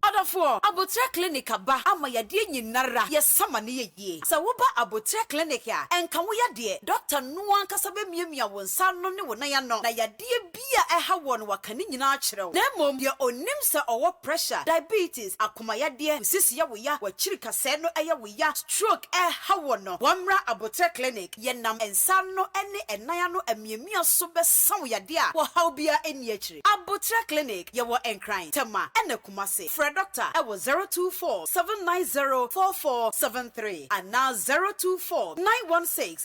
Ɔdɔfoɔ, Aboterɛ Clinic aba ama yadeɛ nyinara, yɛsa ma no yɛ yie. Sɛ woba Aboterɛ Clinic a, ɛnka wo yadeɛ, Doctor no ankasa bɛmiamia wo nsa ano ne wo nan ano na yadeɛ. Bi a ɛha wɔn no waka ne nyinaa akyerɛ wo. Na mmom deɛ ɔnim sɛ ɔwɔ pressure, diabetes, akomayadeɛ, nsisi yɛ wo ya, w'akyiri kasɛɛ no yɛ wo ya, stroke ɛreha wɔn no, wɔmmra aboterɛ clinic, yɛnam nsa ano ne nan ano amiamia so bɛsa wo yadeɛ a ɔhaw biara nni akyire. Aboterɛ clinic, yɛwɔ Nkran, Tema ɛna Kumasi. Frɛ Dɔkta ɛwɔ zero two four seven nine zero four four seven three anaa zero two four nine one six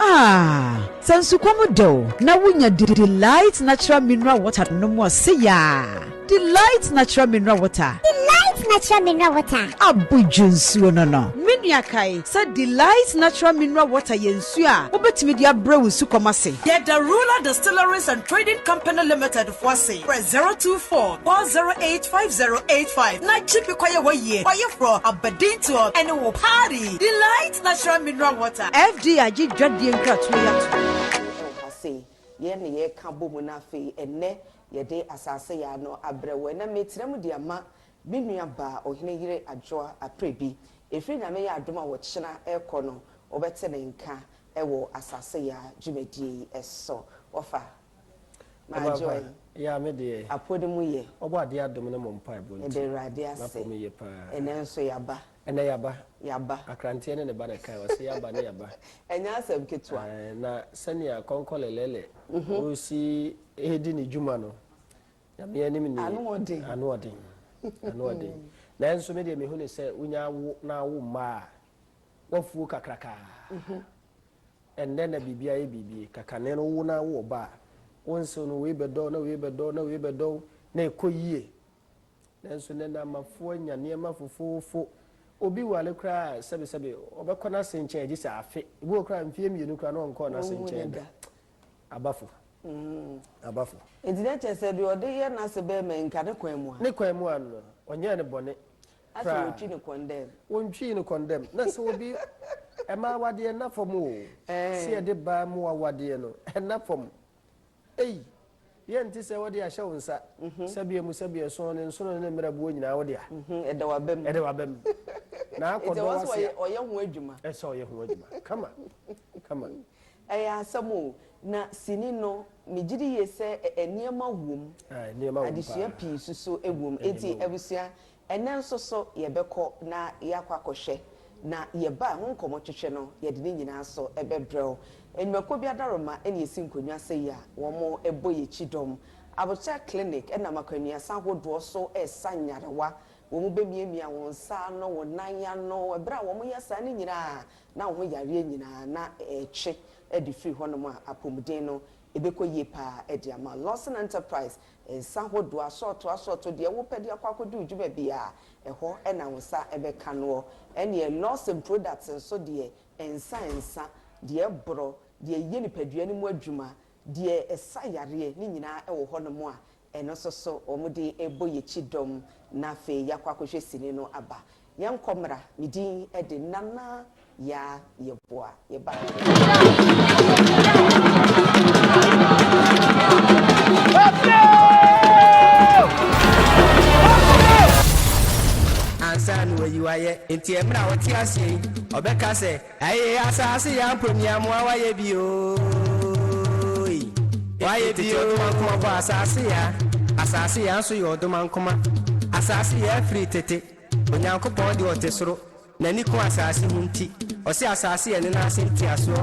Ah! Sɛ nsukɔm dɛ o na wunya Delight Natural Mineral Water nom a, se yaa! Delight Natural Mineral Water. Delight Natural Mineral Water. Abodwo nsuo no no. Me nua kae sɛ Delight Natural Mineral Water yɛ nsuo a wobɛtumi de abrɛ wo nsukɔm ase. Yɛda Ruler Distilleries and Trading Company Limited Foase, frɛ 024 408 5085 na gye bi kɔyɛ w'ayie kɔyeforɔ abadintoɔ ne wo party. Delight Natural Mineral Water. FDI agye dwadie nkratoɔ yi atom. Ɛwɔ ha sei, yɛn na yɛreka bɔ mu na afei ɛnnɛ yɛde asase yaa no abrɛ wo. Ɛnɛ meretena mu de ama me nua baa Ohene Yere Adwoa Aprebi. Ɛfiri Nyame yɛ adom a ɔkyena rekɔ no, wobɛte ne nka wɔ asase yaa dwumadie yi so. Wɔfa. Mpaebɔ Agyew afa yɛ a me deɛ. apode mu yɛ. Ɔbɔ adeɛ adom ne mo mpaebɔ Meda nti Awurade ase. m'apɔ mu ye paa. Ɛnɛ nso yaba. Ɛnɛ yaba. Yaba. Akranteɛ ne ne ba na ɛkae ɔse yaba ne yaba. Ɛnyɛ asɛm ketewa. Ae na sɛnea Kɔnkɔle Lɛlɛ ɔresi redi ne dwuma no Nyame anim nie. Ano ɔden. Ano ɔden. Ano ɔden. Nanso me deɛ mehu no sɛ wonya awo na awo mma a, woafuo kakrakaa. Ɛnnɛ na biribi ayɛ biribi. Kakane no wowo no ara wowɔ ba a, wo nsew no wei bɛdɔ wo na wei bɛdɔ wo na wei bɛdɔ wo na ɛkɔ yie. Nanso nnɛ no amafoɔ anya nneɛma fofoofo. Obi ware koraa a sɛbesɛbe ɔbɛkɔ n'ase nkyɛn gye sɛ afe. Ebi wɔ hɔ koraa a mfeɛ mmienu koraa na ɔnkɔɔ n'ase Ɔnhu no nkyɛn da. da. Abafo. Abafo. Enti na kyerɛ sɛ deɛ ɔde yɛ n'ase bɛrima yi nka ne kwan mu a. Ne kwan mu a no, ɔnyɛɛ no bɔne. Ase wotwi no kɔndɛm. Wontwii no kɔndɛm. Na sɛ obi mma awadeɛ nna fam o. Sɛ yɛde baa mu awadeɛ no, ɛnna fam. Ei, yɛ nte sɛ wɔde ahyɛ wo nsa. Sɛbea mu, sɛbea ɛsõ, ne nsono ne ne mmerɛboɔ nyinaa, wo dea. Ɛda w'aba mu. Ɛda w'aba mu. Na akɔ dɔ w'ase a. Ɛsɛ sɛ ɔyɛ ho adwuma. Ɛsɛ sɛ ɔyɛ ho adwuma. Kama, kama. Ɛyɛ asɛm o. Na sini no, megye di yie sɛ nneɛma wom. Nneɛma wom paa. Adesua pii nso so wom. Enti abusua, Ɛnnɛ nso so yɛbɛkɔ na yɛakɔ akɔhwɛ, na yɛba a ɛho nkɔmmɔtwetwe no, yɛde ne nyinaa nso bɛbrɛ wo. Nnwumakuo bi adaworoma na yɛsi nkonnwa sɛi a wɔbɔ yɛn kyidɔm. Abotare Clinic nam akwannuasa ahodoɔ so resa nyarewa. Wɔbɛmiamia wo nsa ano, wo nan ano. Berɛ a wɔyɛ saa no nyinaa a, na wo ho yareɛ nyinaa na ɛretwe de firi hɔnom a, apɔmuden no ɛbɛkɔ yie pa ara de ama wo. Lawson Enterprise Nsa hodoɔ, asɔɔto asɔɔto, deɛ wopɛ de akɔ akɔdi wo dwuma biara, ɛhɔ na wo nsa bɛka noɔ. Ɛnneɛ Lawson Products nso deɛ, nsa nsa, deɛ ɛborɔ, deɛ ɛyɛ nipadua no mu adwuma, deɛ ɛsa yareɛ, ne nyinaa wɔ hɔnom a, ɛno nso so wɔde bɔ yɛn kyidɔm, na afei yɛakɔ akɔhwɛ sini no aba. Yɛnkɔ mmra, me din de Nana Yaa Yeboah Yeboah. Ansa na wayi wo ayɛ, enti mmerɛ a ɔte aseɛ yi, ɔbɛka sɛ, Ɛye asase ya mpo nea moa wayɛ bi ooii, wayɛ bi oo. Ɔdomankoma bɔ asase ya, asase ya nso yɛ ɔdomankoma, asase ya firi tete. Onyankopɔn de ɔte soro, n'ani ku asase ho nti, ɔse asase yɛ ne nan ase ntiasoɔ.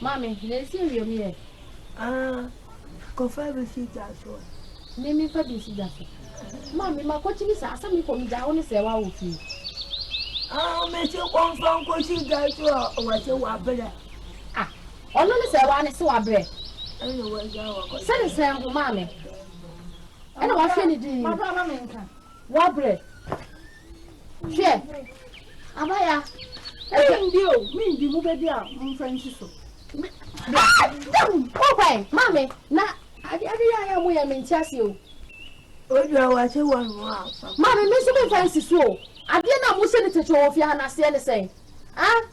Maame, na esi awiam yɛ? Aa, kɔfa bi si gya so. Me memfa bi nsi gya so. Maame, makɔkyini saa, sɛ mekɔ megyaa wo ne sɛ woawɔ fie. Aa, mese kɔmfa nkɔsi gya so a wɔse wabrɛ. Ah, ɔno ne sɛ waa ne se wabrɛ. Ɛna wɔagya wakɔsi. Sɛ ne sɛn ho maame? Ɛna wahwɛ ne din. Mabrɛ ama menka. Wabrɛ. Hwɛ, abaya, ɛdɛm deɛ o, mendi mo bɛdi a momfa nsi so. Me, bra, dɛm, kɔ kwan, ma me, na ade ade yɛ ayɛ mo yɛ me nte aseɛ o. Odwa wɔakye wɔ no a. Ma me, me nso memfa nsi so o. Adeɛ no a mose no tete wɔ fie ha no aseɛ ne sɛn? Ah?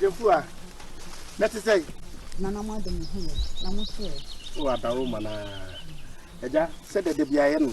Jefua, na te sɛ. Nana mo ade mo ho yɛ, na mo so yɛ. O abawo mana, ɛgya sɛ dɛdɛ bi ayɛ no.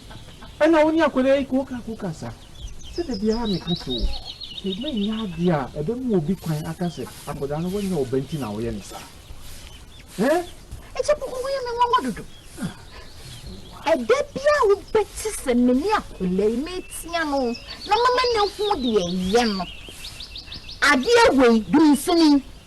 Ɛna wo ne akwadaa yi koka koka sa sɛ da biara me ka kyerɛ wo sɛ ma nyɛ adeɛ a ɛbɛ ma obi kwan aka sɛ akwadaa no wanyɛ ɔba nti na woyɛ no saa eh. Ɛkyɛ koko woyɛ me nwanwa dodo ɛda biara wo bɛ te sɛ me ne akwadaa yi me tia no na mama ne ho deɛ yɛ no adeɛ wei dum sini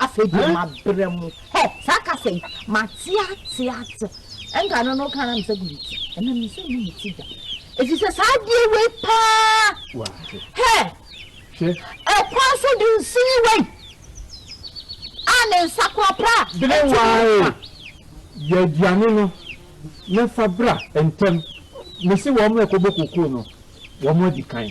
Afei deɛ mabrɛ mo. Hɛ, saa kasa yi, mate ate ate. Ɛnka no na woka na mesɛ gu me ti. Ɛnam ne sɛ mu me ti da. Ɛfiri sɛ saa adeɛ wei paa. Hɛ, ɛkwan so de nsi yi wei. A ne nsa kora pra. Bere wae, yɛ aduane no na fa bra ntɛm. Mese wɔn mmra kɔbɔ kokoo no, wɔadi kan.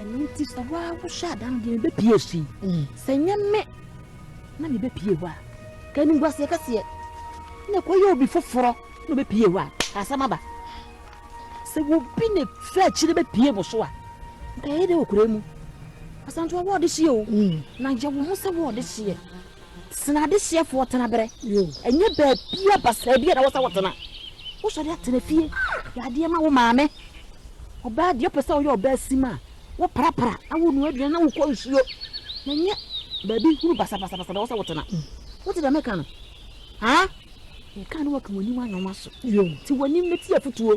Ɛno nti sɛ wo ara wohyɛ ada no deɛ mebɛpie afiri. Mm. Sɛ nyɛ me na mebɛpie hɔ a, ka animguaseɛ kɛseɛ na ɛkɔyɛ obi foforɔ na ɔbɛpie hɔ a, ka asɛm aba. Sɛ wobi ne fɛ akyire bɛpie mo so a, nka yɛyɛ dɛ wɔ kura mu. Asantoa wɔɔde hyeɛ o, mm. na yɛwo ho sɛ wɔɔde hyeɛ. Sen adehyeɛfoɔ tenaberɛ. Ɛnyɛ baabiara basaa biara na ɛwɔ sɛ wotena. Wosɔre atena fie, yɛ adeɛ ma wo maame. Ɔbaa deɛ wopɛ sɛ woyɛ ɔbaa sim a, woprapra na wonoa aduane na wokɔ nsuo. Na ɛnyɛ baabi hunu basabasabasa na ɛwɔ sɛ wotena. Wote deɛ meka no? Haa? Meka a na woaka w'anim anwonwaso. Te w'anim na ti afotuo.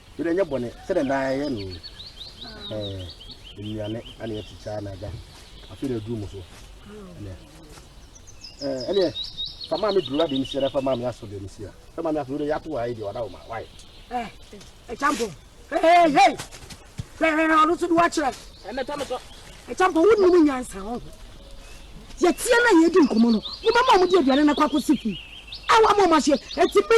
Wei deɛ ɛnyɛ bɔne sɛdeɛ daa yɛyɛ no nnuane ana yɛkyekyɛ ana agya afei na aduru mu so ɛnɛ ɛneɛ fa maa me duru ade no siara fa maa me aso deɛ no sia fa maa me aso wode yɛato wɔ ayɛ deɛ wada wo ma wae ɛkyampo hei ɔno so de woakyerɛ ɛmɛtɔ me so ɛkyampo wonim nyansa ho yɛteɛ no a yɛdi nkɔmmɔ no wobɛma ɔmode aduane no kɔ akɔsi fii awa ma ɔmahyɛ ɛti bi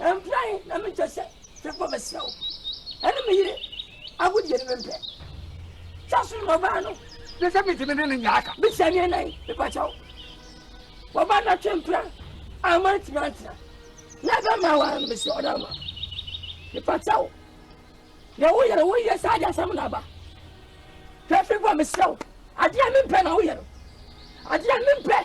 Mpran na menkyɛ sɛ fekɔ mesrɛ wo ɛne me yere agodie no mempɛ twa so na ɔbaa no ne sɛ metumi ne no nya aka bisa ne nan mepakyɛ wo wɔba na twe mpra ama ntumi antena na ɛbɛ ma aware no mesrɛ ɔda ma mepakyɛ wo na woyɛ no woyɛ saa de asɛm na aba hwɛ fekɔ mesrɛ wo adeɛ mempɛ na woyɛ no adeɛ mempɛ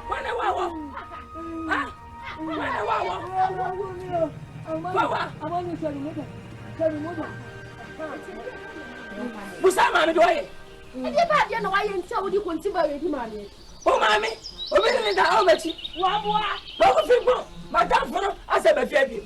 Wane wa wɔ? Ha? Wane wa wɔ? Wawa. Busa maame de ɔyɛ. Ɛdeɛ bá adeɛ na wayɛ nti a wodi konti bá yɛ di maame. O maame, obi ne ne da ɔmɛ ti. Waboa. Bɔkɔ fi bɔ, madam foro asɛ bɛ fi abiem.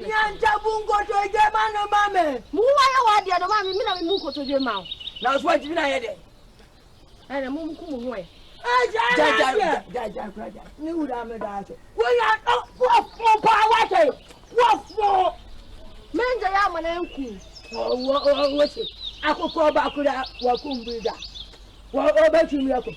Nyanta bu nkotodwe ma no ma me. Mo ho ayɛ wɔ adeɛ no ma me, me na me mu nkotodwe ma wo. Na so atumi na ayɛ dɛ. Ɛna mo nko mo ho ɛ. Ne wura me da ase. Wonya wɔfo paa wate wɔfo. Mɛngye yɛ amana nku. Wɔwɔ wɔwɔ se akokɔ bakura wɔkum bi da. Wɔwɔ bɛtumi akɔ.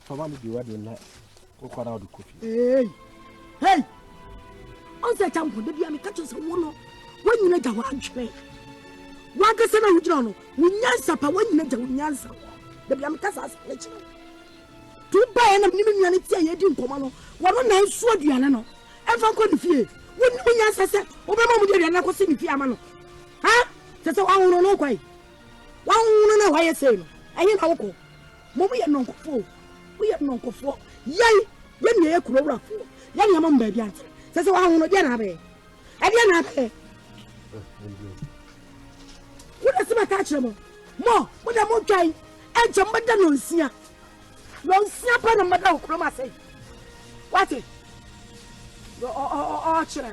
Fama ne biwa de na wokɔ na wode kɔ fie. Hey! Hey! Ɔnsɛ gya mpo, da bia meka kyerɛ sɛ wo no, woanyina gya hɔ adwene. Woankasa na wogyina no, wo nyansa pa, woanyina gya wo nyansa hɔ. Da bia meka saa asɛm no kyerɛ wo. To baeɛ na menim nnuane ti a yɛdi nkɔmmɔ no, wɔno na nso aduane no ɛmfa nkɔ ne fie. Wonim nyansa sɛ wobɛma mu de aduane no akɔsi ne fie ama no? Ha? Sɛ sɛ woahono no wokɔe? Woahono no a woayɛ sei no, ɛhe na wokɔ? Mom yɛ nnɔnkɔfoɔ o, mo yɛ nnɔnkɔfoɔ, yɛn yɛ nea yɛ kuro wurafoɔ, yɛ nea mom baabi antere, sɛ sɛ waho no deɛ na abɛyɛ, ɛdeɛ na abɛyɛ. Wo na sima ka kyerɛ mo, mo, mo na mo dwan, ɛnkyɛ mo bɛda nɔnsia, nɔnsia pɛ na mo bɛda wɔ kurom asɛe, wate, ɔkyerɛ.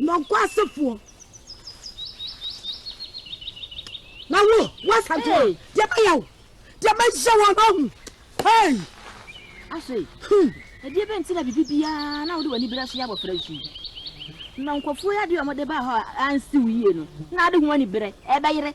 Nɔnkwasefoɔ. Na wo, woasante a, deɛ mɛyɛ wo, deɛ mɛyɛ wo no ahu. Hei! Afei, ɛdeɛ bɛn nti na biribi biara na wode w'ani berɛ so yɛ abɔfra nsu yi? Na nkurɔfoɔ yi adeɛ a wɔde baa hɔ a ansi wo yie no, na ade ho aniberɛ ɛbɛyere.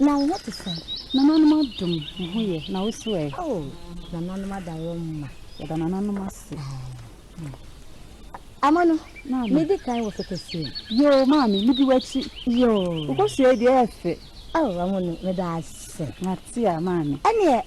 Na wo ho te sɛn? Nananom adom wo ho yɛ na wo so ɛ? Oh, nananom ada wɔn mma. Yɛda nananom ase. Ama no, medi kan wɔ fɛkɛsie. Yoo, maame, medi w'akyi. Yoo. Wokɔhyia yi deɛ ɛyɛ fɛ. Oh, ama no, meda ase. Mate a, maame. Ɛneɛ,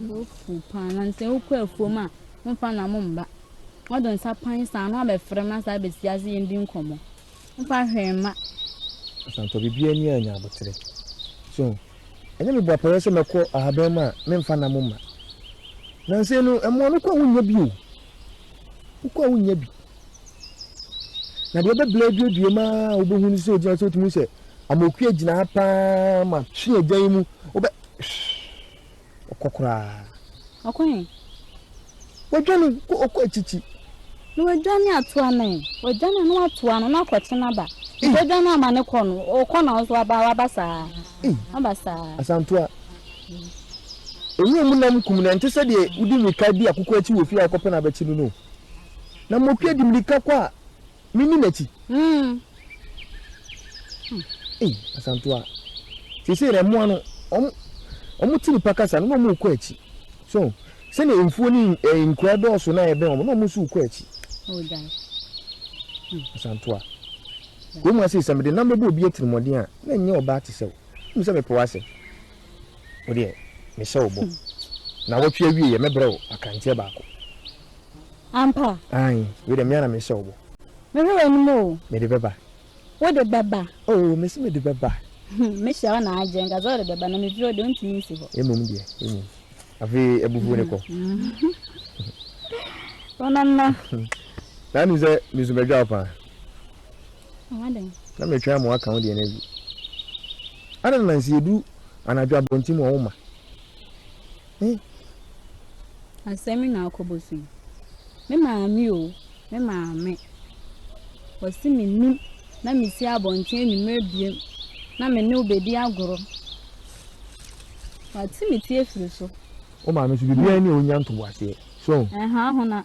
Wofuw paa na sɛ wokɔ afuom a womfa nam mba. Wɔde nsa pan saa na wɔabɛfrɛ ma saa abɛsi ase yɛn di nkɔmmɔ. Womfa hwee mma. Asantɔ biribiara ni a nya aboterɛ. So ho? Ɛnyɛ mebɔ apaeɛ sɛ mɛkɔ ahaban mu a memfa nam mma. Nansa yi no mmoa no wokɔ a wonnya bi o. Wokɔ a wonnya bi. Na deɛ ɛbɛbla aduadua mu ara a wobɛhu no sɛ ɔgyina sɛ wotumi sɛ amokuo agyina ha paa ma twe agya yi mu wobɛ ɔkɔ koraa. Ɔkɔ he? Wadwane ɔkɔ akyikyi. Na wadwane ato ano he? Wadwane a na wato ano na akɔkye no aba. Nti wadwane ama ne kɔ no ɔkɔ na ɔso aba waba saa. Aba saa. Asantoa. Nwura mu nam kum no ɛnte sɛ deɛ wode mmirika di akokɔ akyi wɔ fie a wokɔpɛ no abɛkye no no. Na motwe de mmirika kɔ a, menni n'akyi. Hmm. Hmm. Ei, Asantoa. Seesei na mmoa no, wɔn, wɔn te nipa kasa no na wɔn rekɔ akyi. So, sɛnea mfuo ne eh, nkura dɔɔso na ɛbɛn wɔn na wɔn nso rekɔ akyi. Hmm. Asantoa. Wɔn mu ase sɛ mede nam bɛbɔ obi atirimuɔden a, na ɛnyɛ ɔbaa te sɛ wo. Nim sɛ mepɛ w'asɛm. Wo deɛ, mehyɛ wo bɔ. Hmm. Na wɔtwe awie yɛ mɛbrɛ wo akanteɛ baako. Ampa. Aane, wei deɛ me ara na mehyɛ wo bɔ. Mehwɛ w'anim o. Mede bɛba. Wode bɛba. Oo, mese mede bɛba. Mehyɛ wo na agye, nka sɛ wode bɛba, na mefiri hɔ deɛ, wontumi nsi hɔ. Mmom deɛ, mmom. Afei abufuo no kɔ. Wo nana. Na wonim sɛ me nso mɛdwa wo paa. Ama dɛn? Na metwɛn ama woaka wo deɛ no awie. Adɛn na nso yɛduru anadwo abɔnten mu a womma? Asɛm yi na akɔ bosu yi. Me maame o, me maame. Wɔse mennim na mesi abɔnten anwumerɛ biam na me ne wo bɛdi agorɔ. Wate me ti afiri so. Wo maame nso biribiara nni hɔ ɔnya ntoboaseɛ. So? Ɛha hona.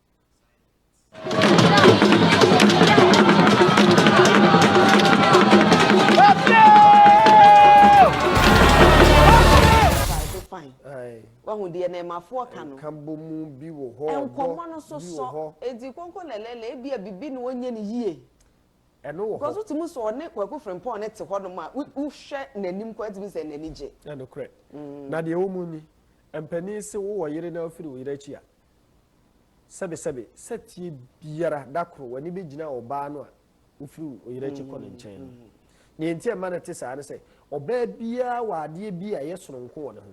wahu deɛ na ɛmafoɔ ka no nkabɔ mu bi wɔ hɔ nkɔmmɔ no so sɔ edi kɔnkɔ lɛlɛlɛ ebi a bibi na ɔnyɛ no yie ɛno wɔ hɔ kɔso tumi sɔ ɔne kwaku frimpɔn ne te hɔ nom a wohwɛ n'anim kɔ ɛtumi sɛ n'ani gye ɛno korɛ mm. na deɛ wɔn mu ni mpanin se wowɔ yere na afiri wo yere akyi a Sɛbesɛbe, sɛteɛ biara, da koro w'ani bɛgyina ɔbaa no a ɔfiri wo yere akyi kɔ ne nkyɛn no. Deɛ enti a ɛma no te saa ne sɛ, ɔbaa biara wɔ adeɛ bi a ɛyɛ sononko wɔ ne ho.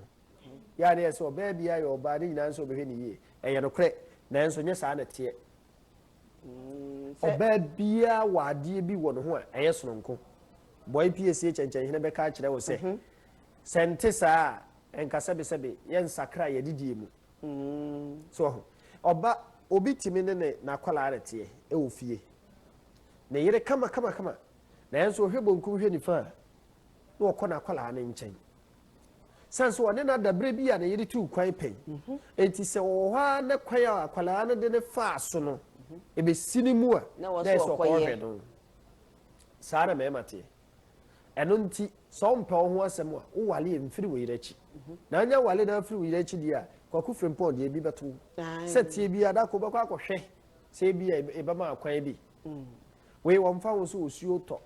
Yɛ a na yɛse ɔbaa biara yɛ ɔbaa, ne nyinaa ne sɛ ɔbɛhwɛ no yie. Ɛyɛ nokorɛ, nanso nyɛ saa na ɛteɛ. Ɔbaa biara wɔ adeɛ bi wɔ ne ho a ɛyɛ sononko. Bɔe pie sie kyɛnkyɛnhene bɛka akyerɛ wo sɛ, Sɛ nte saa a, ɛnka sɛbesɛbe yɛnsakra yɛn adidie mu. So wahu? Ɔba, obi tumi ne ne n'akwadaa reteɛ wɔ fie, ne yere kama kama kama, nanso ɔhwɛ bonkum hwɛ nifa a, na ɔkɔ n'akwadaa no nkyɛn. San so ɔne no ada berɛ bi a ne yere tuu kwan pɛn. Mhm. Enti sɛ ɔwɔ hɔ ara na kwan a akwadaa no de ne faa so no, mhm. ɛbɛsi ne mu a, na ɛsɛ ɔkɔhwɛ no. Saa na mmarima teɛ. Ɛno nti, sɛ wompɛ wo ho asɛm a, wowale a, mfiri wo yere akyi. Na anya wale na afiri wo yere akyi deɛ a, Kwaku Frimpong deɛ ebi bɛto wo. Sɛteɛ biara, da koro wobɛkɔ akɔhwɛ sɛ ebi a ɛbɛma akwan bi. Wei, wɔmfa ho sɛ osuo retɔ,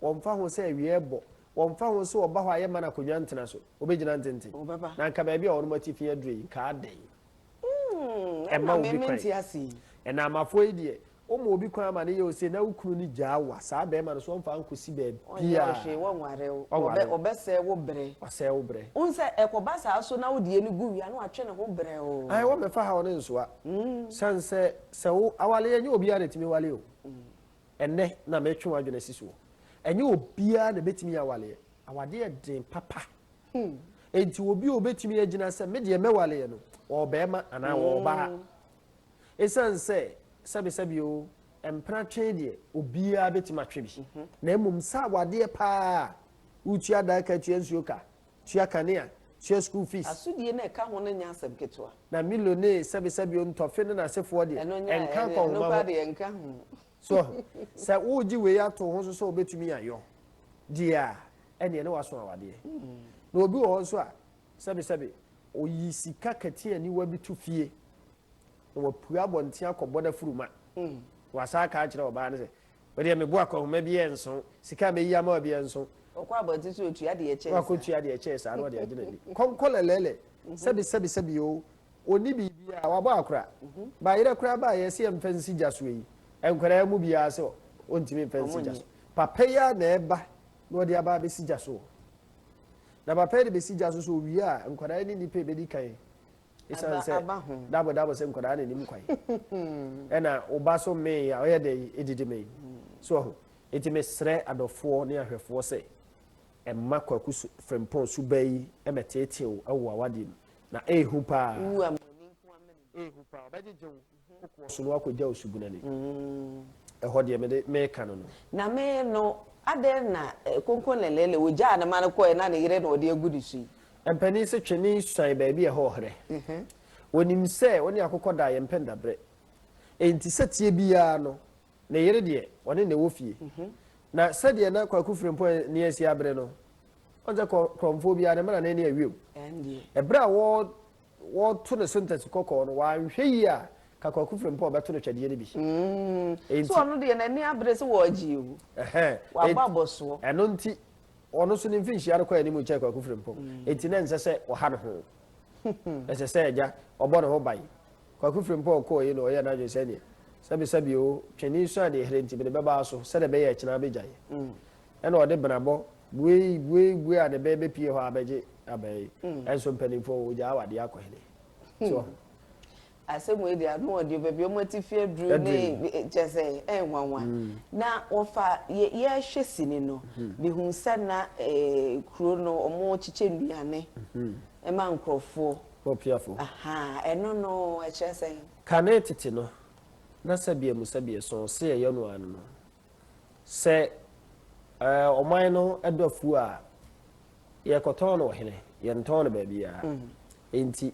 wɔmfa ho sɛ awia rebɔ, wɔmfa ho sɛ ɔba hɔ a yɛmma no akonnwa ntena so, ɔbɛgyina ntenten. Na anka baabi a wɔnom atifi aduru yi, nka adɛn? ɛma obi kwan ɛnamafo yi deɛ wɔma obi kwan ama ne yɛ ose na wo kunu no gyaa wa saa bɛrima no so ɔmfa nkɔsi baabi a ɔbɛsɛe wo brɛ ɔsɛe wo brɛ wohu sɛ ɛkɔba saa so na wodeɛ no gu wia na watwe ne ho brɛ o ae wɔmɛfa ha wo ne nsoa sane sɛ sɛ wo awaleɛ nyɛ obiara na ɛtumi wale o ɛnɛ na metwe w'adwene si soɔ ɛnyɛ obiara na ɛbɛtumi yɛ awaleɛ awadeɛ den papa Hmm. Enti obi a obetumi agyina sɛ me deɛ mɛwale yɛ no, ɔbarima anaa hmm. ɔbaa. Esiane sɛ sɛbisɛbi o, mpena twe deɛ obiara betumi atwe bi. Mhm. Na mmom saa awadeɛ paa, wotua dan ka, tua nsuo ka, tua kanea, tua school fees. Asodie na ɛka ho no nyɛ asɛm ketewa. Na milone sɛbisɛbi o, ntɔfe ne n'asefoɔ deɛ, ɛnka nkɔnhoma ho. So sɛ wogye wei ato ho nso sɛ wobɛtumi ayɔ deɛ a ɛneɛ ne waso awadeɛ na obi wɔ hɔ nso a sɛbesɛbe ɔyi sika kati aniwa bi to fie na wapue abɔnten akɔbɔ no afuruma mm. wasa aka akyerɛ ɔbaa no sɛ wodeɛ mebo akɔhoma bi yɛ nso sika a mɛyi ama bi yɛ nso ɔkɔ abɔnten sɛ ɔtua deɛ kyɛɛ saa ɔkɔtua deɛ kyɛɛ saa na ɔde agyina ni kɔnkɔlɛlɛlɛ mm-hmm. sɛbesɛbesɛbi o Ɔnni biribiara, wabɔ akora. Bayerɛ koraa baa yɛ sɛ yɛmfa nsi gya so yi nkwadaa yi mu biara sɛ ɔntumi mfa nsi gya so. Papa yi ara na ɛba na ɔde aba abɛsi gya so. Na papa yi de bɛsi gya so sɛ ɔwie a nkwadaa yi ne nnipa ɛbɛdi kan ɛsiane sɛ dabo dabo sɛ nkwadaa na nim kwan. Ɛna ɔba so mee a ɔyɛ dɛ ɛdidi mee. So ɔho. Ɛti mesrɛ adɔfoɔ ne ahwɛfoɔ sɛ ɛma Kwaku Frimpong suba yi mɛteetee wo wɔ w'awadeɛ mu. Na ɛyɛ hu paa. Wu ama w'ani nko ara mene no. Ɛyɛ hu paa. Ɔbɛgyegye wo. Wokɔ so no woakɔgya wo subunu ani. Ɛhɔ deɛ mede meka no no. Na me no, adɛn na Konko Lelele wogyaa no ma no kɔeɛ na ne yere na ɔde agu ne so yi? Mpanin se twene suan baabi a ɛhɔ ɔherɛ. Wɔnim sɛ wo ne akokɔ da a yɛmpɛ ndaberɛ. Enti sɛteɛ biara no, Ne yere deɛ, ɔne na ɛwɔ fie. Na sɛdeɛ na Kwaku Frimpong ani asi abere no, ɔn sɛ korɔmfoɔ biara, ne mmara no ani awiam. Ɛberɛ a wɔreto ne so ntasi kɔkɔɔ no, wanhwɛ yie a, ka Kwaku Frimpong bɛto no twɛdeɛ no bi. Enti. So ɔno deɛ, n'ani abere sɛ wɔregye awu. Wabɔ abɔsoɔ. Ɛno nti, ɔno nso ne mfirinhyia no kɔ anim kyɛn Kwaku Frimpong. Enti na ɛnsɛ sɛ ɔha ne ho. Ɛsɛ sɛ agya, ɔbɔ ne ho ban. Kwaku Frimpong kɔɔ yi na ɔyɛɛ n'adwene sɛ neɛ, sɛbesɛbe oo, twene sua deɛ ɛherɛ nti mede bɛba aso sɛdeɛ ɛbɛyɛ a akyina abɛgya yɛ. Ɛnna ɔde benabɔ buei buei buei a ne bɛ bɛpue hɔ abɛgye aba yi. Ɛnso mpanimfoɔ wɔ hɔ, wɔgyaa wɔ adeɛ akɔ hene. So wɔ ho? Asɛm wei deɛ ano ɔdeɛ o, baabi a wɔate fi aduro ne kyerɛ sɛ ɛyɛ nwanwa. Na wɔfa yɛ yɛhwɛ sini no, mehunuu sɛ na kuro no wɔkyekyɛ nnuane ma nkurɔfoɔ. Okuafo. Ahaa, ɛno no, ɛkyerɛ sɛn? Kane tete no, na sɛbea mu sɛbea so ɔse ɛyɛ no ara no no. Sɛ ɛɛ ɔman no dɔ afuo a, yɛkɔtɔn no ɔhene, yɛntɔn no baabiara. Enti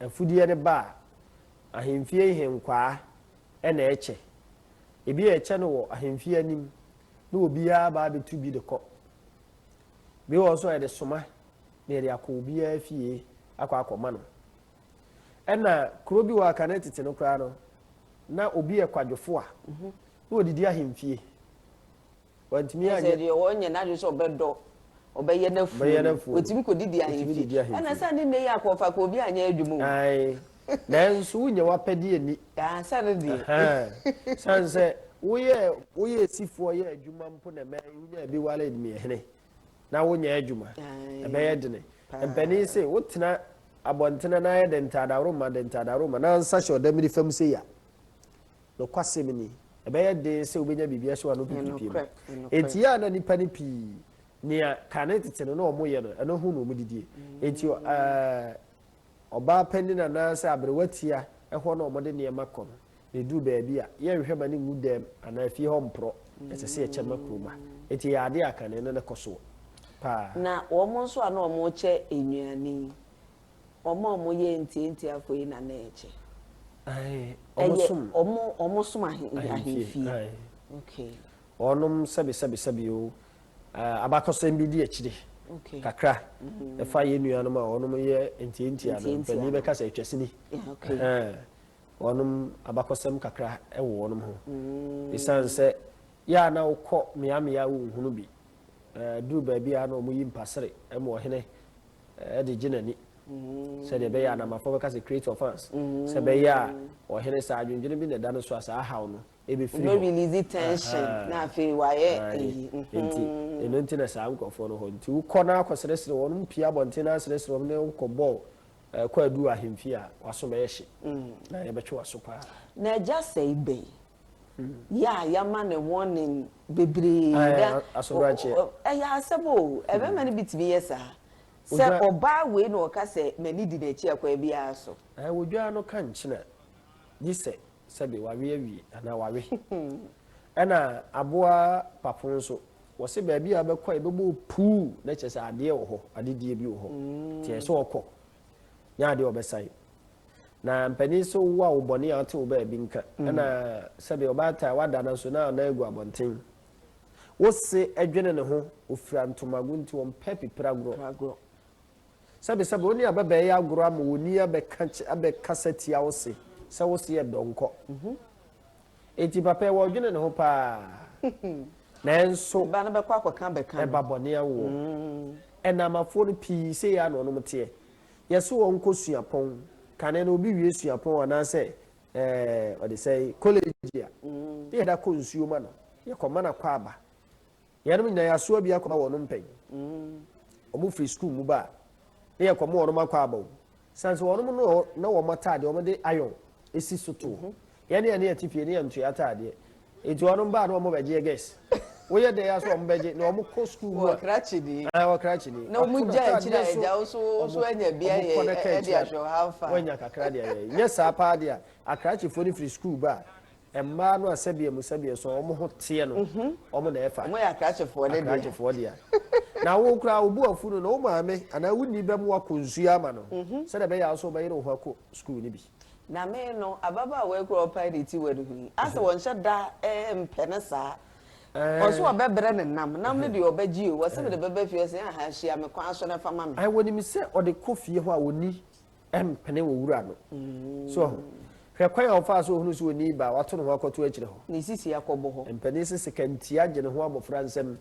afudeɛ no ba a, ahemfie nhenkwaa na ɛkyɛ. Ebi a ɛkyɛ no wɔ ahemfie anim, na obiara ba abɛtu bi de kɔ. Bi wɔ hɔ nso a yɛde soma na yɛde akɔ obiara fie akɔ akɔma no. Ɛna kuro bi wɔ Akane tete no koraa no, na obi yɛ kwadwofo a, mhm. na ɔdidi ahemfie. Wantumi anyɛ. Ɛsɛ deɛ ɔnyɛ n'adwene sɛ ɔbɛdɔ ɔbɛyɛ n'afuo. Ɔbɛyɛ n'afuo. Otumi kɔ didi ahemfie. Ɛna sɛ ne nne yɛ akɔfa kɔ obi anyɛ adwuma o. Ayi. Nanso wonyɛ wapɛdeɛ ani. Aa sɛ ne deɛ. San sɛ woyɛ woyɛ esifoɔ yɛ adwuma mpo na mɛ wonya ebi wale deɛ hene. na wonyɛ adwuma, ɛbɛyɛ dene. Mpanin se, wotena abɔntene na ayɛ dɛ ntadaworoma dɛ ntadaworoma na nsa hyɛ ɔdamiri fam sei a, nokwasɛm ni, ɛbɛyɛ den sɛ wobɛnya biribi ahyɛ w'ano pipipie mu. Enti yɛ a na nnipa no pii, nea kane tete no na wɔyɛ no, ɛno ho na wɔdidie. Enti ɔ, ɛɛ, ɔbaa panin anaasɛ aberewa tia hɔ na wɔde nneɛma kɔ no. Yɛduru baabi a, yɛnhwɛ ma no ngu dam anaa fie hɔ mporɔ. Ɛsɛ sɛ yɛkyɛ ma kurom ha. Enti ɛyɛ adeɛ a kane no kɔ soɔ paa. Na wɔn nso a na wɔrekyɛ nnuane yi, wɔn a wɔyɛ ntiantiafoɔ yi na na ɛkyɛ? Aane, wɔsom. Ɛyɛ wɔsom ahemfie. Okay. Wɔnom sɛbesɛbesɛbe o. Abakɔsɛm bi di akyire kakra ɛfa yɛn nuanom a wɔnom yɛ ntiantia no. Mpanin bɛka sɛ atwasini. Okay. wɔnom abakɔsɛm kakra wɔ wɔnom ho ɛsiane sɛ yɛ a na wokɔ meamea a wonhunu bi duru baabi a na wɔn yi mpasere ma ɔhene de gye n'ani sɛdeɛ ɛbɛyɛ a namafoɔ bɛka sɛ create offense sɛ ɛbɛyɛ a ɔhene saa adwendwene bi na ɛda no so a saa haw no ɛbɛfiri hɔ release tension na afei wayɛ ɛyi nti ɛno nti na saa nkurɔfoɔ no hɔ nti wokɔ no akɔsrɛsrɛ wɔn pia abɔnten no asrɛsrɛ wɔn ne wokɔ bɔɔl Ɛkɔ aduru ahemfie a, w'aso bɛyɛ hye, na yɛbɛtwe w'aso paa. Na agya sɛe bɛn? Yɛ a yɛama no warning bebree. Ae, Na aso do akyeɛ. o, ɛyɛ asɛm o, mmarima no bi tumi yɛ saa. Sɛ Odwa- ɔbaa wei na ɔka sɛ m'ani di n'akyi a, kwan biara so. Ae, wodwaa no ka nkyena, gye sɛ Sɛbe wawe awie anaa wawe. Ɛna aboa papo nso, wɔse baabi a wobɛkɔ a yɛbɛbɔ wo puu na kyerɛ sɛ adeɛ wɔ hɔ, adedie bi wɔ hɔ. Nti ɛyɛ sɛ ɔkɔ nyɛ adeɛ a ɔbɛsan. Na mpanin nso wo a wo bɔne a ɔte wo baabi nka. Ɛna sɛbe ɔbaatan a wada no nso na ɔnan gu abɔnten. Wose dwene ne ho, ɔfira ntomago nti ɔmpɛ pipiragorɔ. Sɛbesɛbe wo ne ababaa yi agoro ama onni abɛka abɛkasa tia wo se sɛ wo se yɛ dɔnkɔ. Enti papa yi wɔdwene ne ho paa. Nanso Ba no bɛkɔ akɔka abɛka no. ɛba bɔne awoɔ. Ɛnamafoɔ no pii sei ara na wɔnom teɛ. Yɛse wɔn nkɔ suapɔn, kane no obi wie suapɔn anaasɛ ɛɛ ɔde sɛe, college a, ne yɛda kɔ nsuo ma no, yɛkɔma no akwaaba. Enuanom nyina yɛasoa bi akɔma wɔnom mpɛn. Wɔn firi sukuu mu ba a, ne yɛkɔ mo wɔnom akɔ aba o. Sane sɛ wɔnom no na wɔn ataadeɛ wɔn de iron si so to hɔ. Yɛne a ne yɛte fie ne yɛntua ataadeɛ. Nti wɔnom ba a ne wɔn bɛgyeɛ gɛs. Woyɛ dɛn a so wɔn bɛgye na wɔn kɔ sukuu mu a. Wɔ krakye ni. Ae wɔ krakye ni. Na wɔn gya akyire a agya wo so wo so anya bi ayɛ de ahwɛ wɔn how far. Wɔanya kakra de ayɛ. Nyɛ saa paa deɛ a akrakyefoɔ no firi sukuu ba a Mmaa no a sɛdeɛ mu sɛdeɛ so wɔn ho teɛ no, wɔn na ɛfa. Wɔn yɛ akrakyefoɔ ne deɛ. Akrakyefoɔ deɛ. Na wo koraa wo bu afu no na wo maame anaa wo ni bɛmu akɔ nsuo ama no sɛdeɛ ɛbɛyɛ a nso wobɛyere wo ho akɔ sukuu no bi. Na me no, ababaawa yi koraa ɔpae ne ti wɔ ne ho yi, asɛ wɔnhyɛ da mpɛ no saa. Ɔse ɔbɛbrɛ no nam. Nam no deɛ ɔbɛgye o. Ɔse mede bɛba fie, ɔse ahaa hyia me kwan so na fa ma me. Wɔnim sɛ ɔde kɔ fie hɔ a ɔnni. Ɛmpene wɔ wura no. So ɔho. Hwɛ kwan a ɔfaa so ohunu sɛ onii ba a wato ne ho akɔto akyire hɔ. Ne sisi akɔbɔ hɔ. Mpanin se seka nti agye ne ho abɔfra nsam.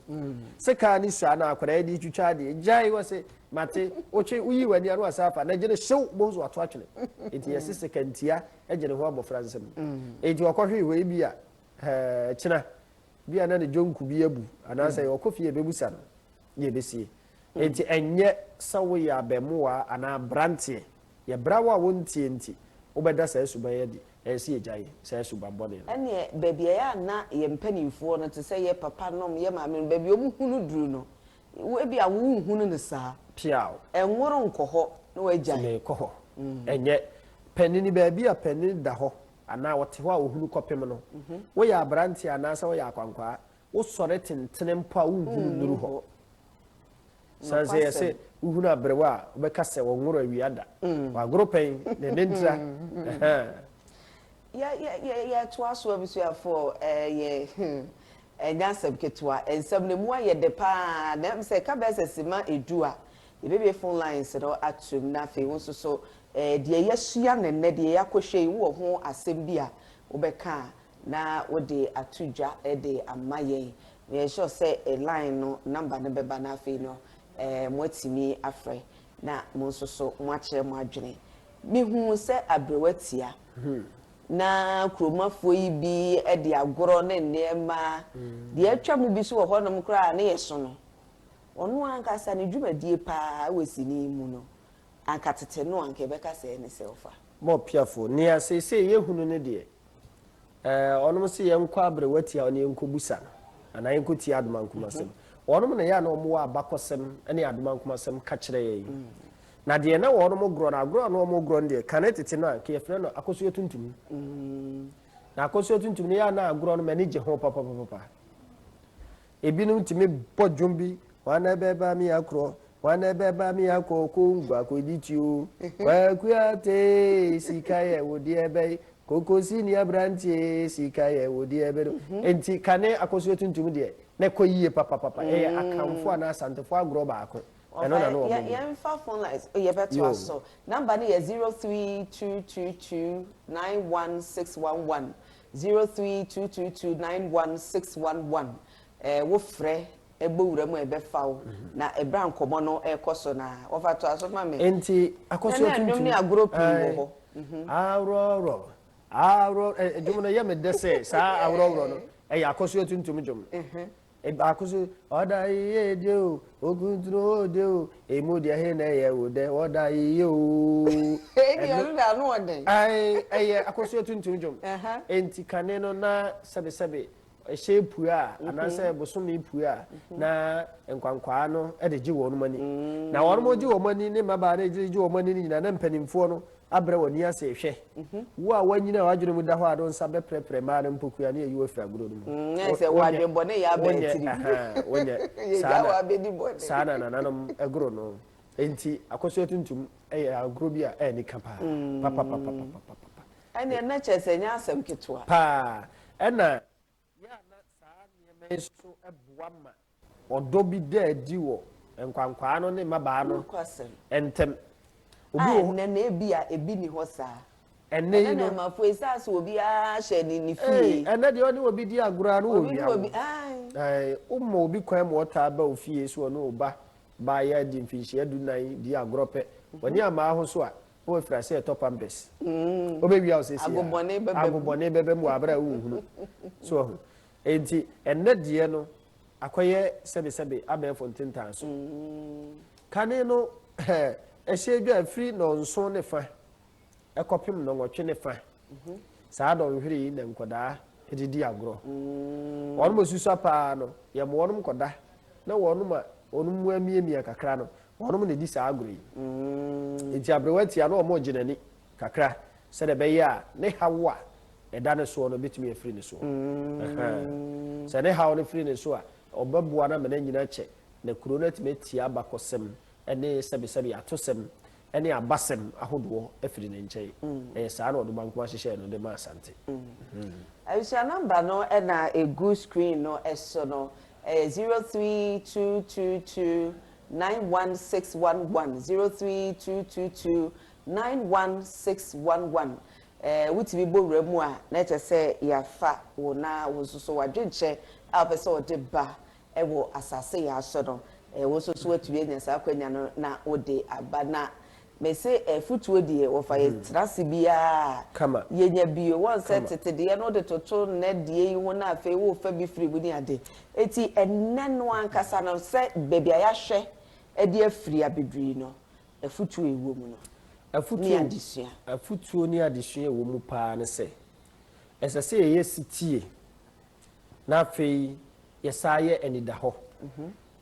Sekaa ne sua na akwadaa yi de retwitwa adeɛ. Gyae! Ɔse, Mate. Wotwe, woyii w'ani a na wasan afa. Na gye no hyew! Wobɛhu sɛ wato atwene. Enti yɛse seka ntia gye ne ho abɔfra nsam. Enti ɔkɔhwee hɔ yi bi a, ɛɛkyena. Bi a na ne dwonku bi abu. Anaasɛ ɔkɔ fie a ɛbɛbusa no. Na ɛbɛsie. Enti ɛnyɛ sɛ woyɛ abaamua anaa aberanteɛ, yɛ bra wo a wontie nti wobɛda saa suban yi adi, ɛyɛ sɛ yɛgyae saa subammɔne no. Ɛnneɛ baabi a ɛyɛ a na yɛn mpanimfoɔ no, te sɛ yɛn papanom, yɛn maamenom, baabi a wɔhunu duru no, ebia wonhunu no saa. Piaw. Ɛnworo nkɔ hɔ na wɔagyae. Nti merekɔ hɔ. Ɛnyɛ, panini, baabi a panini da hɔ anaa ɔte hɔ a ɔhunu kɔpem no, woyɛ aberanteɛ anaasɛ woyɛ akwankwaa, Wosɔre tentene mpo a wonhunu nnuru hɔ. Sane sɛ yɛ se wohunu aberewa a, wobɛka sɛ wɔnworo awia da. Wagoro pɛn, na ɛnɛ ntira. Yɛtoa so abusuafoɔ, ɛyɛ ɛnyɛ asɛm ketewa. Nsɛm no ɛmu ayɛ dɛ pa ara. Na ɛm sɛ ɛka bɛyɛ sɛ sima edu a, yɛbɛbue phone lines no atom. Na afei wo nso so, deɛ yɛasua no nnɛ, deɛ yɛakɔhwɛ yi, wowɔ ho asɛm bi a wobɛka a, Na wode ato dwa de ama yɛn. Meyɛ sure sɛ line no number no bɛba na afei no moatumi afrɛ na mo nso so moakyerɛ mo adwene. Mehu sɛ aberɛw atia na kuromafoɔ yi bi de agorɔ ne nneɛma, deɛ atwa mu bi nso wɔ hɔnom koraa a ne yɛ so no, ɔno ankasa ne dwumadie pa ara wɔ sini yi mu no, anka tete no anka yɛbɛka sɛɛ ne sɛɛfa. Moppiafoɔ, nea seesei yɛhunu ne deɛ, Eh, ɔnom se yɛnkɔ aberewa tia ɔne yɛnkɔ busa no anaa yɛnkɔ tia adomankomasɛm mhm. ɔnom na yɛ a na ɔmo wɔ abakɔsɛm ne adomankomasɛm ka kyerɛ yɛn mhm. na deɛ na wɔnom gorɔ no agorɔ a na ɔmo gorɔ no deɛ kane tete no a nka yɛfrɛ no akɔsoɔ tuntum mhm. na akɔsoɔ tuntum no yɛ a na agorɔ no m'ani gye ho papapapapa Ebinom tumi bɔ dwom bi, Hwanna bɛba me akorɔ, hwanna bɛba me akɔ Kongo akɔdi ti o. Kwaku Atey, sika yɛ wo deɛ bɛn, Koko Sini aberanteɛ, sika yɛ wo deɛ bɛn o. Enti kane akɔsoɛ tuntum deɛ, na ɛkɔ yie papapapa. Ɛyɛ Akanfoɔ anaa Asantefoɔ agorɔ baako. Ɛno na na wɔbɔ mu. Yɛmfa phone lines, yɛbɛtoa so. Number no yɛ zero three two two two nine one six one one, Zero three two two two nine one six one one ɛɛ wo frɛ ɛbɔ wura mu a ɛbɛfa wo na ɛbrɛ a nkɔmɔ no ɛkɔ so na wɔfa to aso ma me. Nti akɔso tuntum. Nana nnwom ne agorɔ pii wɔ hɔ. Aworɔworɔ aworɔ ɛɛ dwom no yɛ me dɛ sɛ saa aworɔworɔ no ɛyɛ akɔso tuntum dwom. Baako so, Ɔda yiye de o, okuntunu o de o, emu deɛ he na ɛyɛ wo dɛ, ɔda yiye o. Ebi ɔno de ano ɔdɛ. Ae, ɛyɛ akɔsoɛ tuntum dwom. Enti kane no na sɛbesɛbe ɛhyɛn pue a, anaasɛ bosome pue a, na nkwankwaa no de gye wɔnom ani. Na wɔnom gye wɔn ani, ne mmabaa no gye wɔn ani no nyinaa, na mpanimfoɔ no Abrɛ w'ani ase rehwɛ. Wo a woanyin a w'adwene mu da hɔ a ne wo nsa bɛprɛprɛ mmaa no mpokua na yɛyi wo afiri agodo no mu. Mm, ayɛ sɛ wo adwene bɔne yɛ aba atiri. Wonyɛ. Saa na, saa na nananom goro no. Enti akosua tuntum yɛ agorɔ bi a ɛnni ka paa. Mm. Papapapapapapa. Ɛnneɛ na kyerɛ sɛ ɛnyɛ asɛm ketewa. Paa. Ɛna. Yɛ a na saa nneɛma yi nso boa ma ɔdɔ bi da adi wɔ nkwankwaa no ne mmabaa no ntam. A Ɛnnɛ no, ebia ebi nni hɔ saa. Ɛnnɛ yi no. Ɛnnɛ no, ɛma fo esiane sɛ obiara hyɛ ne ne fie. Ee, ɛnnɛ deɛ ɔne obi di agorɔ a, na ɔwia wo. Obi ne obi, ae. Ae, woma obi kwan ma ɔtaa ba wo fie sɛ ɔne wo ba baeɛ adi mfinhyia dunan di agorɔ pɛ. Ɔne amaa ho so a, O afirase ɛtɔ pam des. Mm. O bɛ wia o sɛ si ya. Agobɔne bɛbɛ mu. Agobɔne bɛbɛ mu abere a o nhunu. So ahu. Enti ɛnɛ deɛ no akɔyɛ sɛbesɛbe abɛɛfo ntentan so. Mm. Kane no ɛhyɛ dwa firi nɔnson ne fa ɛkɔpem nɔnwɔtwe ne fa. Saa dɔnhwere yi na nkwadaa de di agorɔ. Wɔn a wɔsusua pa ara no, yɛbɔ wɔn kɔda, na wɔn a wɔn mu amiamia kakra no, wɔn na ɛdi saa agorɔ yi. Enti aberewa ti a, na wɔregye n'ani kakra sɛdeɛ ɛbɛyɛ a ne haw a ɛda ne soɔ no bɛtumi afiri ne soɔ. Sɛ ne haw no firi ne so a, ɔbɛboa no ama no anyini akyɛ, na kuro no atumi atie abakɔsɛm ne sɛbesɛbe atosɛm ne abasɛm ahodoɔ firi ne nkyɛn. Ɛyɛ saa na ɔde ɔba nko ara hyehyɛɛ no de ma Asante. Abusua number no na ɛgu screen no so no, ɛyɛ zero three two two two nine one six one one, zero three two two two nine one six one one. Ɛɛ wotumi bɔ wura mu a na kyerɛ sɛ yɛafa wo na wo nso so w'adwenkyɛ a wopɛ sɛ ɔde ba wɔ asase yɛa so no, wo nso so woatumi anya saa akwanya no na wode aba. Na mese afutuo deɛ wɔfa yɛ tra ase biara a Kama. yɛnya bio. Wɔn sɛ Kama. tete deɛ no wode toto nnɛ deɛ yi ho na afei worefa bi firi mu ne ade. Enti ɛnnɛ no ankasa no sɛ baabi a yɛahwɛ de afiri abɛduru yi no, afutuo a ɛwɔ mu no ne Afutuo, adesua. afutuo ne adesua a ɛwɔ mu paa ne sɛ, ɛsɛ sɛ yɛyɛ setie. na afei yɛsan yɛ anidahɔ.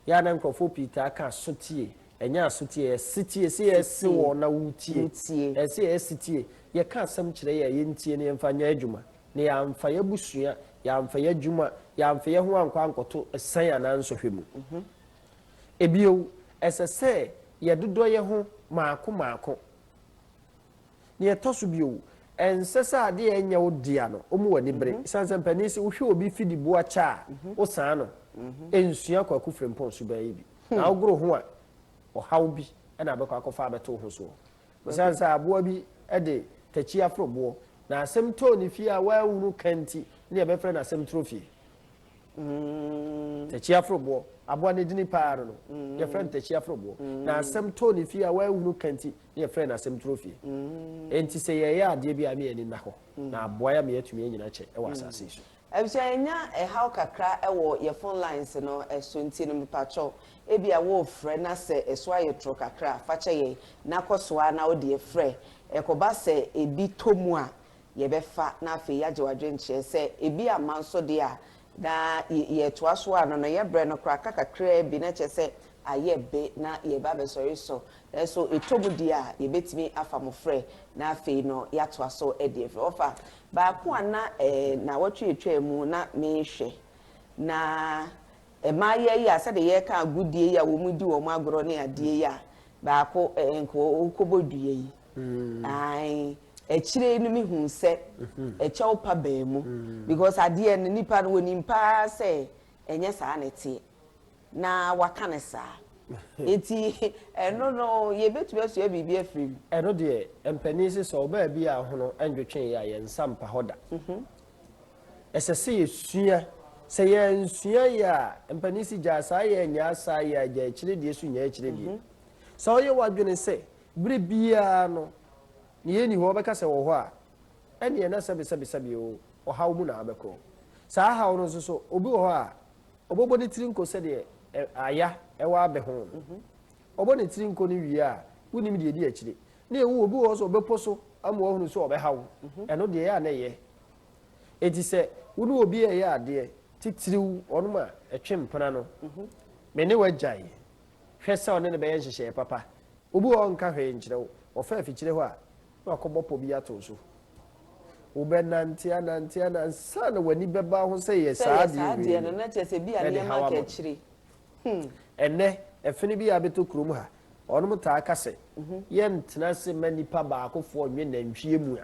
Yɛ a na nkurɔfoɔ pii taa ka sotie, ɛnyɛ asotie, ɛyɛ setie, se yɛse wɔn na wotie, ɛyɛ se yɛyɛ setie, yɛka asɛm kyerɛ yɛ a yɛntie na yɛmfa nyɛ adwuma, na yɛamfa yɛ abusua, yɛamfa yɛ adwuma, yɛamfa yɛ ho ankɔ ankɔto asiane anaa nsɔhwɛ mu. Bio, ɛsɛ sɛ yɛdodɔ yɛ ho maako maako. Nea ɛtɔ so bio, ɛnsɛ sɛ ade a ɛnyɛ wo dea no, woma w'ani bere. Esiane sɛ mpanin se wohwɛ obi fi de bu akyɛ a, wosan no. Nsua Kwaku Frimpong suban yi bi, na wogoro ho a, ɔhaw bi na wobɛkɔ akɔfa abɛto wo ho soɔ. Esiane sɛ aboa bi de takyi aforo boɔ, na asɛm tɔɔ ne fie a wanhunu ka nti, na yɛbɛfrɛ no asɛm turo fie. Takyia foroboɔ, aboa no edini paa no no, yɛfrɛ no takyia foroboɔ. Na asɛm too ne fie a wanhunu ka nti, na yɛfrɛ no asɛm turo fie. Enti sɛ yɛreyɛ adeɛ bi a, ɛma yɛn ani nna hɔ, na aboa yɛn ama yɛatumi anyini akyɛ wɔ asase yi so. Abusua, yɛnya ɛhaw kakra wɔ yɛn phone lines no so nti no, mepakyɛw, ebia worefrɛ na sɛ ɛso ayɛ toro kakra a, fa kyɛ yɛn, na kɔ so ara na wo deɛ frɛ. Ɛkɔba sɛ ebi tɔ mu a, yɛbɛfa na afei yɛagye w'adwene kyerɛ sɛ ebi amma nso deɛ a, na yɛretoa so a, nnɔnnɔeɛ berɛ no koraa aka kakraa bi, na kyerɛ sɛ ayɛ be na yɛreba abɛsɔre so. Nanso ɛtɔ mu deɛ a, yɛbɛtumi afa mo frɛ na afei no yɛatoa so de afiri. Ɔfa baako a na nnawɔtwe atwaa mu na merehwɛ, na mmayewa yi a sɛdeɛ yɛreka agodie yi a wɔredi wɔn agorɔ ne adeɛ yi a, baako nka ɔrekɔbɔ dua yi, Mm. Ae. Akyire yi no me hu sɛ mm-hmm. ɛkyɛw pa bɛn mu mm. because adeɛ no nipa no wɔnim paa sɛ ɛnyɛ saa na ɛteɛ na waka no saa eti ɛno no yɛbɛtumi asua biribi afiri mu. ɛno deɛ mpanin sɛ sɛ ɔbaa bi a hono ɛndwetwe yɛ a yɛn nsa mpa hɔ da mm-hmm. ɛsɛ sɛ yɛsua sɛ yɛnsua yɛ a mpanin si gyaa saa yɛ nyaa saa yɛ a gyaa akyire deɛ so nyaa akyire deɛ mm-hmm. sɛ ɔyɛ w'adwene sɛ Bere biara no, nea enni hɔ bɛka sɛ ɛwɔ hɔ a, ɛnneɛ na sɛbesɛbesɛbe oo, ɔhaw mu na abɛkɔ. Saa haw no nso so, obi wɔ hɔ a, ɔbɛbɔ ne tiri nko sɛdeɛ ɛ, aya ɛwɔ abɛ ho no. Ɔbɔ ne tiri nko no wie a, wonnim deɛ ɛdi akyire. Na ɛwom, obi wɔ hɔ nso a, ɔbɛpo so ama wahunu sɛ ɔbɛhaw. Ɛno deɛ, ɛyɛ a na ɛyɛ. Enti sɛ wo ne obi reyɛ adeɛ, titiriw wɔnom a ɛtwe mpena no, me ne wo agyae. Hwɛ sɛ ɔne no bɛyɛ nhyehyɛe papa. Obi wɔ hɔ a ɔnka hwee nkyerɛ wo. Ɔfa afikyire hɔ a, na wakɔbɔ pɔ bi atow so. Wobɛnante anante ana ansa na w'ani bɛba ho sɛ yɛ saa ade wei bi na ɛde haw ama no. Ɛnnɛ, afi no bi a abɛtɔ kurom ha, wɔnom taa ka sɛ, Yɛntena ase mma nipa baakofoɔ nnwe nantwie mua.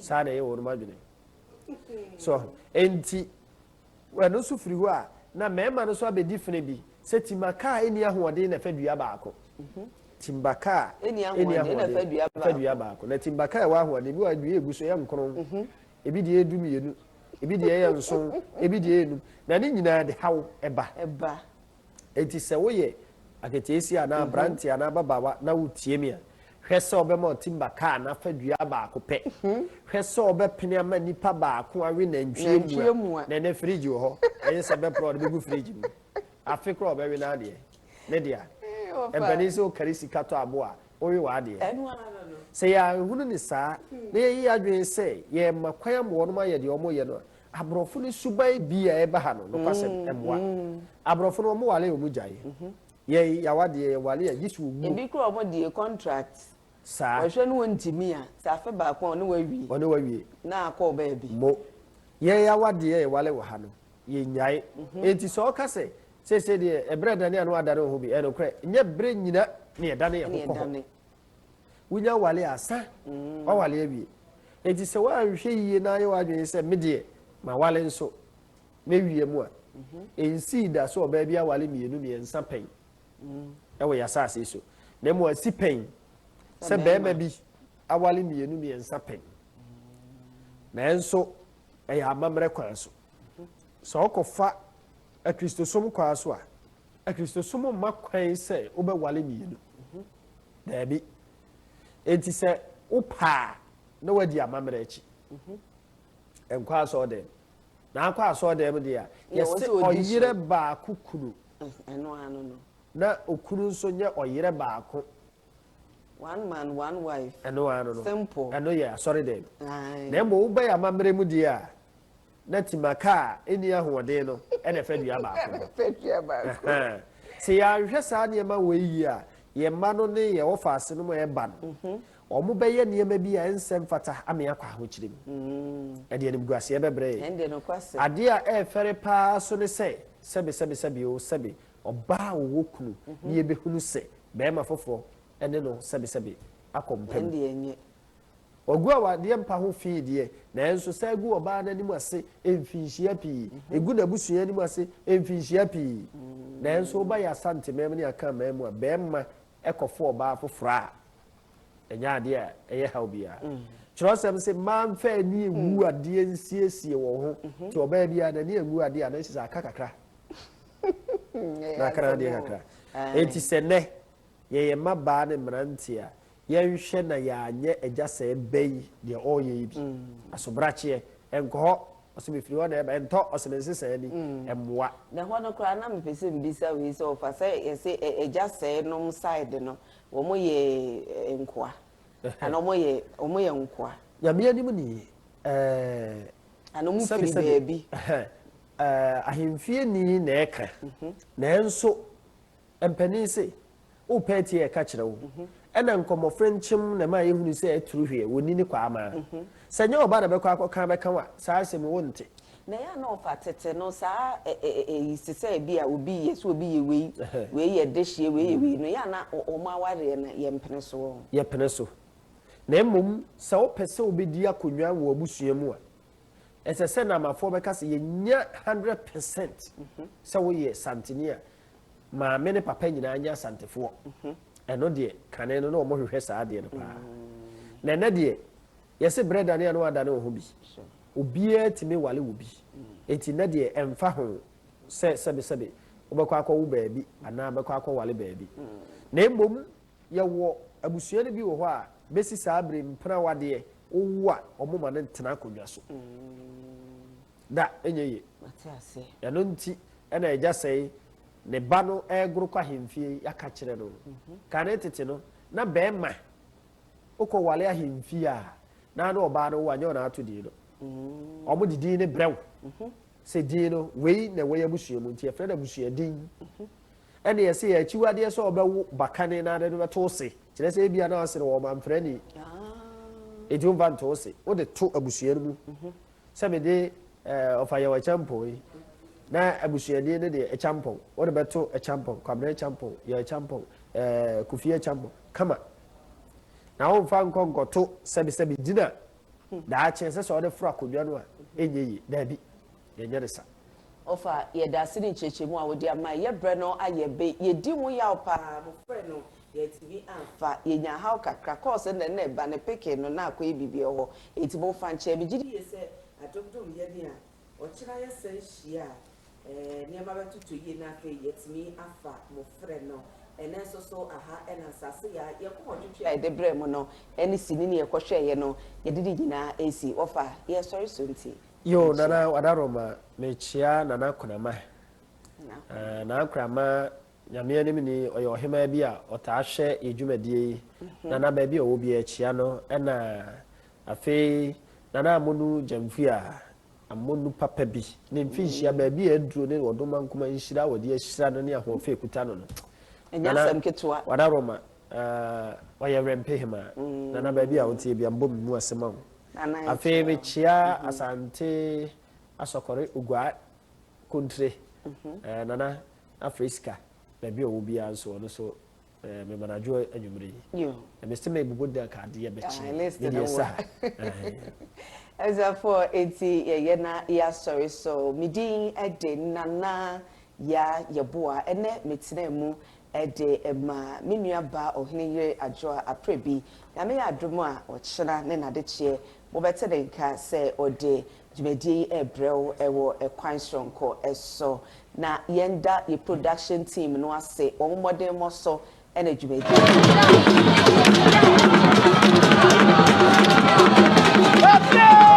saa na ɛyɛ wɔn adwene so nti ɛno nso firi hɔ a na mmarima no nso abɛdi fene bi sɛ tima kaa ɛni ahoɔden na ɛfɛ dua baako mhm. timba kaa ɛni ahoɔden na ɛfɛ dua baako na timba kaa ɛwɔ ahoɔden bi wɔ dua egu so ɛyɛ nkron mhm. ebi deɛ edu mmienu ebi deɛ ɛyɛ nson ebi deɛ ɛyɛ num na ne nyinaa de haw ɛba. Enti sɛ woyɛ aketeesia anaa aberante anaa ababaawa na wotie me a, hwɛ sɛ wobɛma ɔtimba kaa no afa dua baako pɛ. Hwɛ sɛ wobɛpene ama nipa baako awe nantwie mua. Nantwie mua. Na ɛnnɛ fridge wɔ hɔ. Ɛnyɛ sɛ bɛporɔ a ɔde bɛgu fridge mu. Afe koraa ɔbɛwe n'adeɛ. Ne dea. Ee ɔfa. Ɛmpanin sɛ wokari sika tɔ abo a, wowe w'adeɛ. Ɛno ara no. Sɛ yɛanhunu no saa na yɛayi yɛn adwene sɛ yɛrema kwan ama wɔnom ayɛ deɛ wɔreyɛ no a, Aborɔfo no suban bi a ɛba ha no, nokwasɛm, ɛmmoa. Aborɔfo no, wɔware a wɔgyae. Yɛn, yɛawa deɛ, yɛware a, gye sɛ wɔwu. Ebi koraa wɔn deɛ, contract. Saa. Wɔhwɛ na wɔntumi a, sɛ afe baako a, wɔne wo awie. Wɔne wo awie. Na akɔ baabi. Mo. Yɛn yɛawa deɛ, yɛware wɔ ha no, yɛnnyae. Enti sɛ ɔka sɛ, Seesei deɛ, ɛberɛ adane a na wɔadane wɔn ho bi, ɛyɛ nokorɛ. Nyɛ berɛ nyina na yɛdane yɛn ho kɔ hɔ. wonya wale a sa mm. wawale awie enti sɛ woanhwɛ yie na ayɛ w'adwene sɛ me deɛ ma wale nso mɛwie mu a mhm. ɛnsii da so ɔbaa bi awale mmienu mmiɛnsa pɛn mm. ɛwɔ yɛasase so na mmom asi pɛn sɛ bɛrima bi awale mmienu mmiɛnsa pɛn nanso ɛyɛ amammerɛ kwan so mhm. sɛ ɔkɔfa akristosom kwan so a Akristosom mma kwan sɛ wobɛware mmienu. Daabi. Enti sɛ wopɛ a, na woadi amammerɛ akyi. Nkɔ asɔɔdɛm. Na akɔ asɔɔdɛm deɛ a, yɛse ɔyerɛ baako kunu. Na okunu nso nyɛ ɔyerɛ baako. One man, one wife. Ɛno ano no. Simple. Ɛno yɛ asɔredɛm. Na mmom wobɛyɛ amammerɛ mu deɛ a, na timaka a enni ahoɔden no na ɛfa dua baako ho. Sɛ yɛanhwɛ saa nneɛma wei yie a, yɛn mma no ne yɛn ɔfaasenom a ɛreba no, mhm. wɔbɛyɛ nneɛma bi a ɛnsɛ mfata ama yɛakɔ ahokyere mu. Mm. Ɛde animguaseɛ bɛbrɛ yɛn. Adeɛ a ɛrefɛre paa so ne sɛ, sɛbe sɛbe sɛbe o sɛbe ɔbaa a ɔwɔ kunu mhm. ne yɛbɛhunu sɛ bɛrima foforɔ ne no sɛbe sɛbe akɔ mpam. Wɔagu awadeɛ mpa ho fi deɛ, nanso saa gu ɔbaa no anim ase mfinhyia pii, ɛgu n'abusua anim ase mfinhyia pii. Nanso woba yɛn Asanteman mu ne Akanman mu a, barima kɔfa ɔbaa foforɔ a, ɛnyɛ adeɛ a ɛyɛ haw biara. Twerɛsɛm se, Mmaa mfa ani ngu adeɛ nsiesie wɔn ho, nti ɔbaa biara n'ani angu adeɛ a, na ɛkyerɛ sɛ aka kakra, na aka n'adeɛ kakra. Enti sɛ nnɛ yɛyɛ mmabaa ne mmeranteɛ a, Yɛnhwɛ na yɛanyɛ agya sɛɛ bɛ yi deɛ ɔreyɛ yi bi. Asobrakyeɛ, ɛnkɔ hɔ. Ɔse mefiri hɔ na ɛreba. Ɛntɔ, ɔse me nsesaɛ ni. Ɛmmoa. Na ɛhɔ no koraa na mepɛ sɛ mebisa wei sɛ ɔfa sɛ yɛse agya sɛɛ nom side no wɔn yɛ nkoa anaa wɔn yɛ wɔn yɛ nkoa. Nyame anim ni ɛɛɛ. Anaa wɔn firi baabi. Ɛhɛn ɛɛɛ ahemfie ni na ɛka nanso Mpanin se, Wopɛ atie a ɛka kyerɛ wo. Ɛna nkɔmmɔ frenkyem na ɛmaa yɛhunu sɛ aturu hweɛ, wɔnni ne kwaa mmaa. Sɛ ɛnyɛ ɔba na ɛbɛkɔ akɔka abɛka wo a, saa asɛm yi wonte. Na ɛyɛ a na ɔfa tete no saa ɛyi te sɛ bi a obi yɛ, sɛ obi yɛ wei, wei yɛ dehyeɛ, wei yɛ wei no, ɛyɛ a na wɔn awareɛ no yɛmpene soɔ. Yɛpene so. Na mmom sɛ wopɛ sɛ wobɛdi akonnwa wɔ abusua mu a, ɛsɛ sɛ Naamafoɔ bɛka sɛ yɛnya hundred percent sɛ woyɛ Santini a maame ne papa nyinaa nyɛ Asantefoɔ, ɛno deɛ kane no na wɔn hwehwɛ saa adeɛ no paa. Na ɛnɛ deɛ yɛse berɛ dane a na wɔadane wɔn ho bi. Obiara tumi wale wo bi. Enti nɛ deɛ ɛmfa ho sɛ sɛbesɛbe wobɛkɔ akɔwo baabi anaa bɛkɔ akɔwale baabi. Na mmom yɛwɔ abusua no bi wɔ hɔ a bɛsi saa bere mpena awadeɛ, wowo a wɔma no tena akonnwa so. Da, ɛnyɛ yie. Mate aseɛ. Ɛno nti na agya sɛi ne ba no regoro kɔ ahemfie yi, yɛaka kyerɛ no. Kane tete no, na bɛɛma wokɔ wale ahemfie a, na ne ɔbaa no wo a, nyɛ wɔn ato din no. Wɔn de din no brɛ wo. Sɛ din no, wei na ɛwɔ yɛn abusua mu, nti yɛfrɛ no abusua din. Ɛne yɛse yɛ akyiwadeɛ sɛ wɔbɛwo ba kane na ade no bɛto wo se, kyerɛ sɛ ebia na wɔse no wɔn mamfrani. Enti womfa nto wo se, wode to abusua no mu. sɛ mede ɔfa yɛ ɔkyampɔn yi na abusuani no deɛ ɛkyampɔn wode bɛto ɛkyampɔn kwabena ɛkyampɔn yɛ ɛkyampɔn ɛɛ kofi ɛkyampɔn kama na womfa nkɔ nkɔto sɛbisɛbi gyina daakye sɛ sɛ wode foro akonnwa no a ɛnyɛ yie daabi yɛnyɛ ne sa ɔfa yɛda ase ne nkyerɛkyerɛmu a wode ama yɛbrɛ no ayɛ be yɛdi ho yaw paa mofrɛ no Yɛantumi amfa. Yɛnyaa haw kakra. Kɔɔ sɛ na nna ba no peke no na akɔyɛ biribi wɔ hɔ. Enti momfa nkyɛ. Megye di. Yiye sɛ adobdom yɛ den a, ɔkyena yɛsan hyia a, ɛɛ, nneɛma bɛtotɔ yiye na afei yɛatumi afa mo frɛ no. Ɛnnɛ nso so, aha na nsase yi a yɛn koma twetwe a yɛde brɛɛ mo no ne sini no yɛkɔhwɛeɛ no, yɛde ne nyinaa resi. Wɔfa yɛn sɔre so nti, Yo, Nana mekyia. Ɔda Roma, mekyia Nana Konamah. Nana Konamah. Nana Konamah Nyame anim ni, ɔyɛ ɔhemaa bi a ɔtaa hwɛ yɛ dwumadie yi, na na baabi a ɔwɔ biara akyia no na afei Nana Amonu Gyamfi a Amonu papa bi ne mfinhyia baabi a aduro ne ɔdoma nkoma nhyira a wɔde ahyira no ne ahoɔfɛ a ɛkuta no no. Nana Wadaroma, ɔyɛ Werɛmpe hemaa. Nana baabi a woteɛ biara mebɔ me mu ase ma wo. Afei mekyia Asante Asɔkɔre Oguaa Kontre, Nana Afei sika baabi a ɔwɔ biara nso ɔno nso eh, mema no adwo anwummere yi na mese mebobɔ dan ka adeɛ bɛkye ne deɛ sa ɛzafoɔ enti yɛyɛ na yɛasɔre so me din de nana ya yɛboa ɛnɛ metena mu de ma me nuaba ɔhene yere adwoa aprɛ bi nyame yɛ adom a ɔkyena ne nadekyeɛ mobɛte ne nka sɛ ɔde Dwumadie yi rebrɛ wo wɔ kwan soronko so, na yɛn da yɛn production team no ase wɔn mmɔdenmɔ so na dwumadie yi aba ha.